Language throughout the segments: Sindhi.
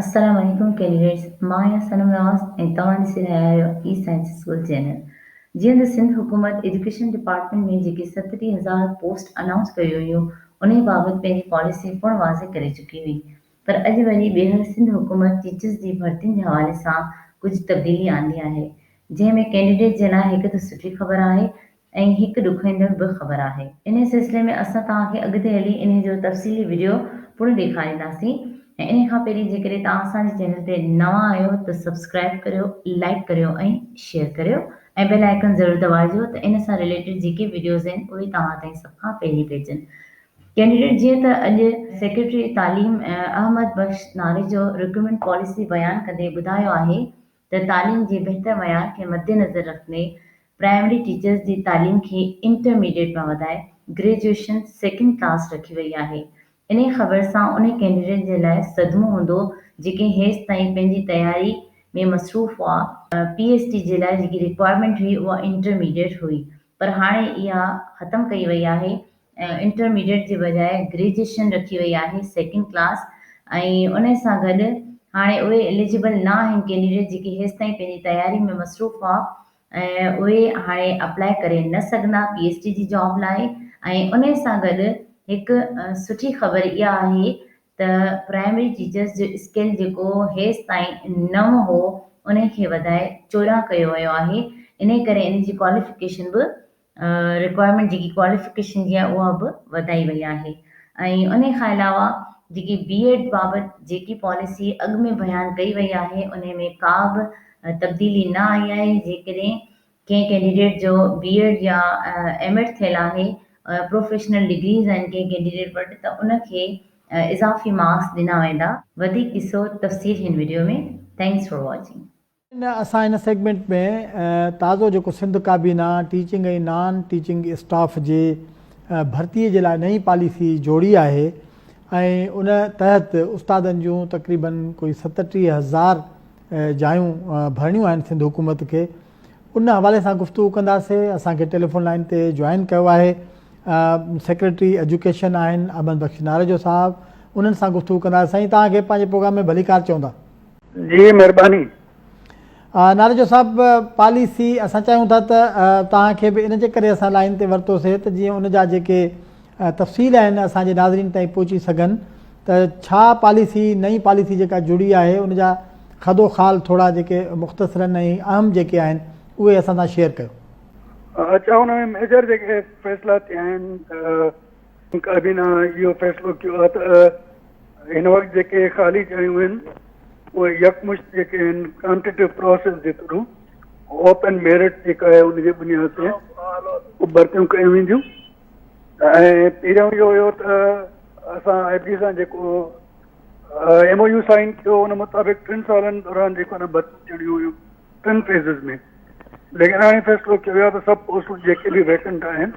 السلام عليڪم ڪيليڊٽس مان آهيان صنم نواز ۽ توهان ڏسي رهيا آهيو اي سائنس اسڪول چينل جيئن ته سنڌ حڪومت ايجوڪيشن ڊپارٽمينٽ ۾ جيڪي ستٽيهه هزار پوسٽ انائونس ڪيون هيون انهي بابت پنهنجي پاليسي پڻ واضح ڪري چڪي هئي پر اڄ وري ٻيهر سنڌ حڪومت ٽيچرز جي ڀرتين جي حوالي سان ڪجهه تبديلي آندي آهي، جنهن ۾ ڪينڊيڊيٽ جي لاء هڪ ته سٺي خبر آهي ۽ هڪ ڏکوئيندڙ به خبر آهي. انهي سلسلي ۾ اسان توهان کي اڳتي هلي انهي جو تفصيلي وڊيو پڻ ڏيکارينداسين ۽ انهي کان پهرين جيڪڏهن توهان اسان جي چينل تي نوان آهيو ته سبسڪرائيب ڪريو، لائيڪ ڪريو ۽ شيئر ڪريو ۽ بيل آئيڪن ضرور دٻائجو ته ان سان رليٽيڊ جيڪي وڊيوز آهن اهي توهان تائين سڀ کان پهرين پهچن. ڪينڊيڊيٽ جيئن ته اڄ سيڪريٽري تعليم احمد بخش ناريجو رڪريومينٽ پاليسي بيان ڪندي ٻڌايو آهي ته تعليم جي بهتر معيار کي مدنظر رکندي پرائمري ٽيچرز جي تعليم کي انٽرميڊيٽ مان وڌائي گريجوئيشن سيڪنڊ ڪلاس رکي وئي آهي انهي خبر سان انهي ڪينڊيڊيٽ جي لاء صدمو هوندو جيڪي هيستائين پنهنجي تياري ۾ مصروف هئا. پي ايڇ ڊي جي لاء جيڪي ريڪوائرمينٽ هئي اها انٽرميڊيٽ هئي پر هاڻي اها ختم ڪئي وئي آهي انٽرميڊيٽ جي بجاء گريجوئيشن رکي وئي آهي سيڪنڊ ڪلاس ۽ انهي سان گڏ هاڻي اهي اليجبل نه آهن ڪينڊيڊيٽ جيڪي هيستائين پنهنجي تياري ۾ مصروف هئا اهي هاڻي اپلائي ڪري نه سگهندا پي ايڇ ڊي جي جاب لاء ۽ انهي سان گڏ هڪ سٺي خبر اها آهي ته پرائمري ٽيچرس جو اسڪيل جيڪو هيستائين نو هو انهي کي وڌائي چوڏهن ڪيو ويو آهي انهي ڪري انهي جي ڪواليفڪيشن به رڪوائرمينٽ جيڪي ڪواليفڪيشن جي آهي اها به وڌائي وئي آهي ۽ انهي کان علاوه جيڪي بي ايڊ بابت جيڪي پاليسي اڳ ۾ بيان ڪئي وئي آهي انهي ۾ ڪا به تبديلي نه آئي آهي جيڪڏهن ڪنهن ڪينڊيڊيٽ جو بي ايڊ يا ايم ايڊ ٿيل آهي پروفيشنل ڊگريز آهن ڪنهن ڪينڊيڊيٽ وٽ ته ان کي اضافي مارڪس ڏنا ويندا. وڌيڪ ڏسو تفصيل هن وڊيو ۾ Thanks for watching. اسان هن سيگمينٽ ۾ تازو جيڪو سنڌ ڪابينا ٽيچنگ ۽ نان ٽيچنگ اسٽاف جي ڀرتي جي لاء نئين پاليسي جوڙي آهي ۽ ان تحت استادن جون تقريباً ڪوئي ستٽيهه هزار جايون ڀرڻيون آهن سنڌ حڪومت کي ان حوالي سان گفتگو ڪنداسي اسان کي ٽيليفون لائين تي جوائن ڪيو آهي سيڪريٽري ايجوڪيشن آهن احمد بخش نارجو صاحب انهن سان گفتگو ڪنداسين سائين توهان کي پنهنجي پروگرام ۾ ڀليڪار چوندا جي مھرباني. ناريجو صاحب پاليسي اسان چاهيون ٿا ته توهان کي به ان جي ڪري اسان لائين تي ورتو سي ته جيئن ان جا جيڪي تفصيل آهن اسان جي ناظرين تائين پهچي سگهن ته ڇا پاليسي نئين پاليسي جيڪا جڙي آهي ان جا خد و خال ٿورا جيڪي مختصرا ۽ اهم جيڪي آهن اهي اسان سان شيئر ڪيو. اچا ان ۾ ميجر جيڪي فيصلا ٿيا آهن ته ان ڪابينا اهو فيصلو ڪيو آهي ته هن وقت جيڪي خالي جايون آهن اهي يڪمشت جيڪي آهن ڪانٽيٽو پروسيس جي ٿرو اوپن ميرٽ جيڪا آهي ان جي بنياد تي ڀرتيون ڪيون وينديون ۽ پهريون اهو هيو ته اسان آء بي سان جيڪو ايم او يو سائن ٿيو ان مطابق ٽن سالن دوران جيڪو نه ڀرتيون ٿيڻيون هيون ٽن فيزز ۾ لیکن هاڻي فيصلو ڪيو ويو آهي ته سڀ پوسٽون جيڪي به ويڪنٽ آهن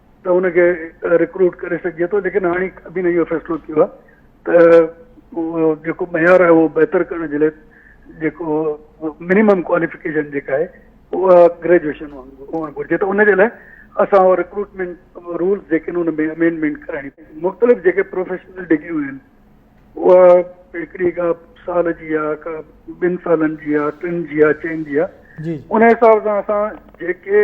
ته ان کي رڪروٽ ڪري سگهجي ٿو ليڪن هاڻي ابين اهو فيصلو ڪيو آهي ته جيڪو معيار آهي اهو بهتر ڪرڻ جي لاء جيڪو منيمم ڪواليفڪيشن جيڪا آهي اها گريجويشن هئڻ گهرجي ته ان جي لاء اسان اهو رڪروٽمينٽ رولس جيڪي آهن ان ۾ امينڊمينٽ ڪرائڻي پوندي مختلف جيڪي پروفيشنل ڊگريون آهن اها هڪڙي کا سال جي آ کا ٻن سالن جي آ ٽن جي آ چئن جي آ ان حساب سان اسان جيڪي